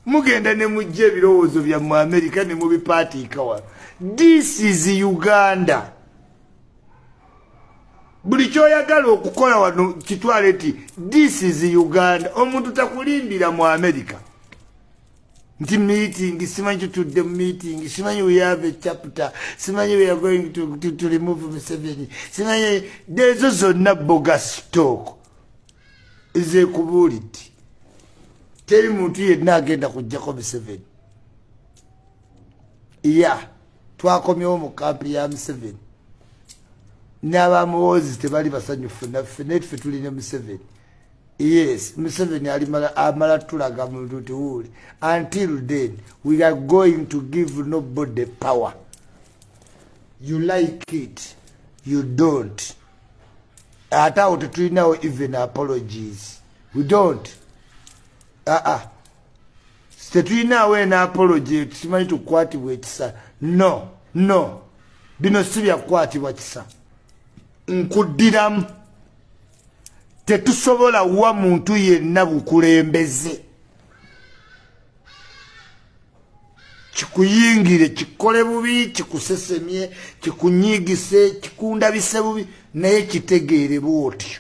mugenda ne mujja ebirowoozo bya mu amerika ne mubipaatiika wano this is uganda buli kyoyagala okukola wano kitwale nti this is uganda omuntu takulimbira mu amerika nti meeting simanyi tutudde mu meeting simanyi we have a chapter simanyi we are going to, to, to remove museveni simanyi ezo zonna boga stock nze kubuulidde teri muntu yenna agenda kujjako museveni ya twakomyewo mu kampi ya museveni n'abamuwoozi tebali basanyufu naffe naye tufe tuli ne museveni yes museveni alimala amala tulaga muluti wuli until then we are going to give nobody power you like it you don't ate awo tetulinawo even apologies we don't aa ah, uh ah. -uh. tetulinaawo ena apology tusimanyi tukukwatibwa ekisa no no bino si byakukwatibwa kisa nkuddiramu tetusobola wa muntu yenna bukulembeze kikuyingire kikole bubi kikusesemye kikunyigise kikundabise bubi naye kitegeere bwotyo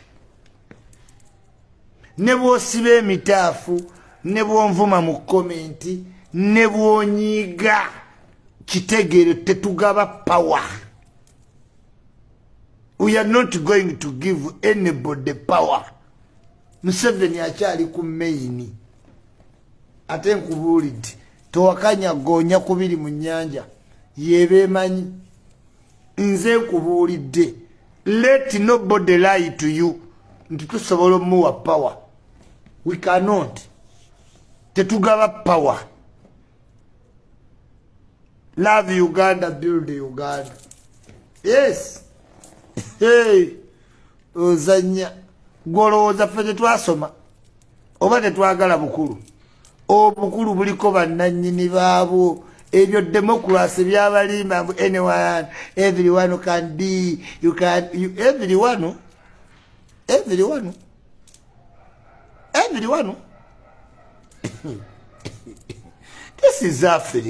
ne bwosiba emitaafu ne bwonvuma mu komenti ne bwonyiiga kitegeere tetugaba power we are not going to give anybody power museveni akyali ku maini ate nkubuulidde towakanya goonya kubiri mu nnyanja yebeemanyi nze nkubuulidde let nobody lie to you nti tusobola omuwa power we cannot tetugaba power love uganda build uganda yes hey ozanya gwolowooza ffe tetwasoma oba tetwagala bukulu obukulu buliko bannanyini baabwo ebyo democracy byabalimba mbu anyone everyone can be you can you, everyone everyone everyone this is africa